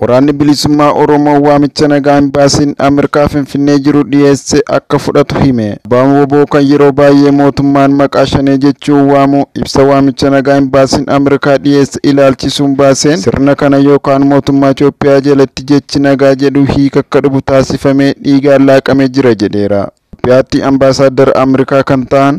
Waraanni Bilisummaa Oromoo waamicha nagaa Imbaasiin Ameerikaa Finfinnee jiru dhiyeesse akka fudhatu hime. Abbaan wbo kan yeroo baay'ee mootummaan maqaa Shanee jechuun waamu ibsa waamicha nagaa Imbaasiin Ameerikaa dhiyeesse ilaalchisuun baaseen sirna kana yookaan mootummaa Itoophiyaa jalatti jechi nagaa jedhu hiika akka dhubu taasifamee dhiigaan laaqamee jira jedheera. Itoophiyaatti Ambaasaaddara Amrikaa kan ta'an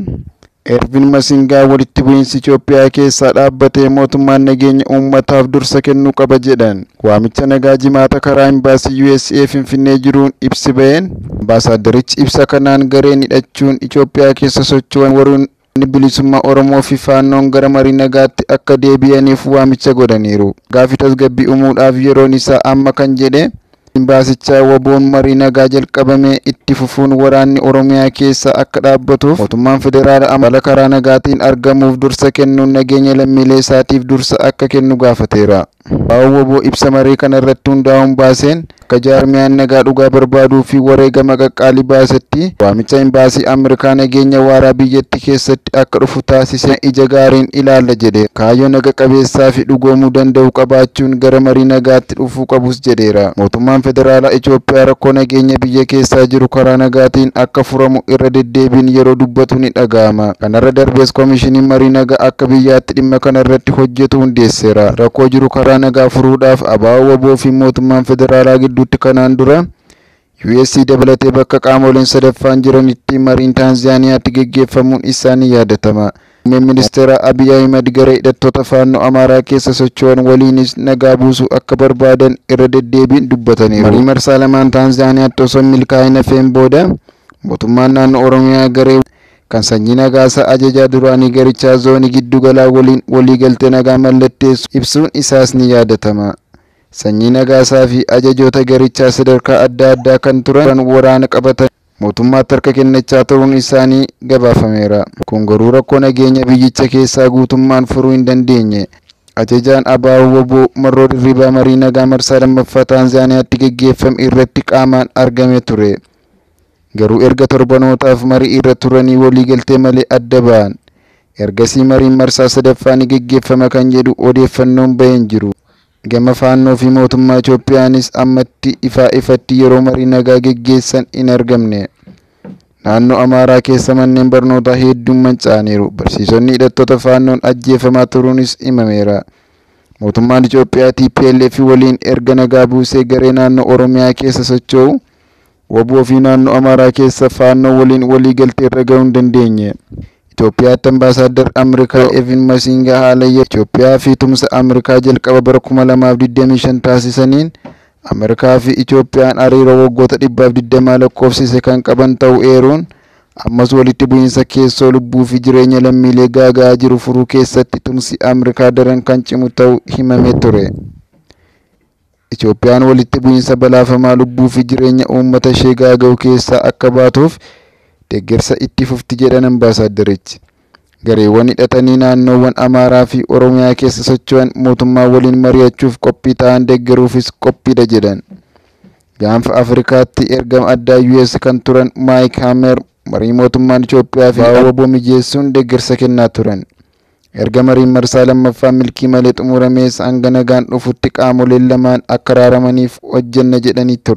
Ervin Masingaa walitti bu'iinsi Itoophiyaa keessaa dhaabbatee mootummaan nageenya uummataaf dursa kennuu qaba jedhan. Waamicha nagaa Jimaata karaa Imbaasii usa Finfinnee jiruun ibsi ba'een, Ambaasaaddarichi ibsa kanaan gareen hidhachuun Itoophiyaa keessa socho'an warreen Waraanni Bilisummaa Oromoo fi Faannoon gara marii nagaatti akka deebi'aniif waamicha godhaniiru. Nagaa fi tasgabbii umuudhaaf yeroon isaa amma kan jedhe Imbaasichaa, wbo'n marii nagaa jalqabame itti fufuun waraanni Oromiyaa keessaa akka dhaabbatuuf mootummaan federaala amala karaa nagaatiin argamuuf dursa kennuun nageenya lammiilee isaatiif dursa akka kennu gaafateera. Abbaan wbo ibsa maree kana irratti hundaa'uun baaseen, akka jaarmiyaan nagaa dhugaa barbaaduu fi wareegama qaqqaalii baasetti, waamicha Imbaasii Ameerikaa nageenya waaraa biyyattii keessatti akka dhufu taasise ija gaariin ilaalla jedheera. Kaayyoo naga qabeessaa fi dhugoomuu danda'u qabaachuun gara marii nagaatti dhufuu qabus jedheera. Mootummaan Federaalaa Itoophiyaa rakkoo nageenya biyya keessaa jiru karaa nagaatiin akka furamu irra deddeebiin yeroo dubbatu ni dhaga'ama. Kanarra darbees Komishiniin Marii Nagaa akka biyyaatti dhimma kana irratti hojjetu hundeesseera. Rakkoo jiru karaa nagaa furuudhaaf abo, wbo fi mootummaan federaalaa gidduutti kanaan dura US dabalatee bakka qaamoleen sadaffaan jiranitti mariin Taanziyaaniyaatti geggeeffamuun isaa ni yaadatama. Muummeen Ministeeraa Abiy Ahimad garee hidhattoota Faannoo Amaaraa keessa socho'an waliinis nagaa buusuu akka barbaadan irra deddeebiin dubbataniiru. Marii marsaa lamaan Taanziyaaniyaatti osoo hin milkaa'in hafeen booda mootummaan naannoo Oromiyaa garee kan Sanyii Nagaasaa Ajajaa duraanii garichaa Zoonii Giddu Galaa waliin waliigaltee nagaa mallatteessu ibsuun isaas ni yaadatama. Sanyii Nagaasaa fi ajajoota garichaa sadarkaa adda addaa kan turan waraana qabatanii mootummaatti harka kennachaa turuun isaanii gabaafameera. Kun garuu rakkoo nageenya biyyicha keessaa guutummaan furuu hin dandeenye. Ajajaan ABO-wbo Marroo Dirribaa marii nagaa marsaa 2ffaa Taanzaaniyaatti gaggeeffame irratti qaamaan argamee ture. Garuu erga torbanootaaf mari'iirra turanii waliigaltee malee adda ba'an. Ergasii mariin marsaa sadaffaa ni geggeeffama kan jedhu odeeffannoon ba'e hin jiru. Gama Faannoo fi mootummaa Itoophiyaanis ammatti ifaa ifatti yeroo marii nagaa geggeessan hin argamne. Naannoo Amaaraa keessa manneen barnootaa heedduun manca'aniiru. Barsiisonni hidhattoota Faannoon ajjeefamaa turuunis himameera. Mootummaan Itoophiyaa tplf waliin erga nagaa buusee garee naannoo Oromiyaa keessa socho'u Wbo fi Naannoo Amaaraa keessa Faannoo waliin walii galtee irra gahuu hin dandeenye. Itoophiyaatti Ambaasaaddar Amrikaa Evin Masinga haala yeroo Itoophiyaa fi tumsa Amrikaa jalqaba bara 2025 taasisaniin Amrikaa fi Itoophiyaan hariiroo waggoota 120 lakkoofsise kan qaban ta'uu eeruun ammas walitti bu'iinsa keessoo lubbuu fi jireenya lammiilee gaaga'aa jiru furuu keessatti tumsi Amrikaa daran kan cimu ta'uu himamee ture. Itoophiyaan walitti bu'iinsa balaafamaa lubbuu fi jireenya uummata ishee gaaga'u keessaa akka baatuuf deggersa itti fufti jedhan ambaasaaddarichi. Gareewwan hidhatanii naannoowwan Amaaraa fi Oromiyaa keessa socho'an mootummaa waliin mari'achuuf qophii ta'an deggeruufis qophiidha jedhan. Gaanfa Afrikaatti ergama addaa US kan turan Maayik Haamer marii mootummaan Itoophiyaa fi abo mijeessuun deggersa kennaa turan. Erga mariin marsaa lammaffaa milkii malee xumuramees hanga nagaan dhufutti qaamoleen lamaan akka araaramaniif hojjenna jedhanii ture.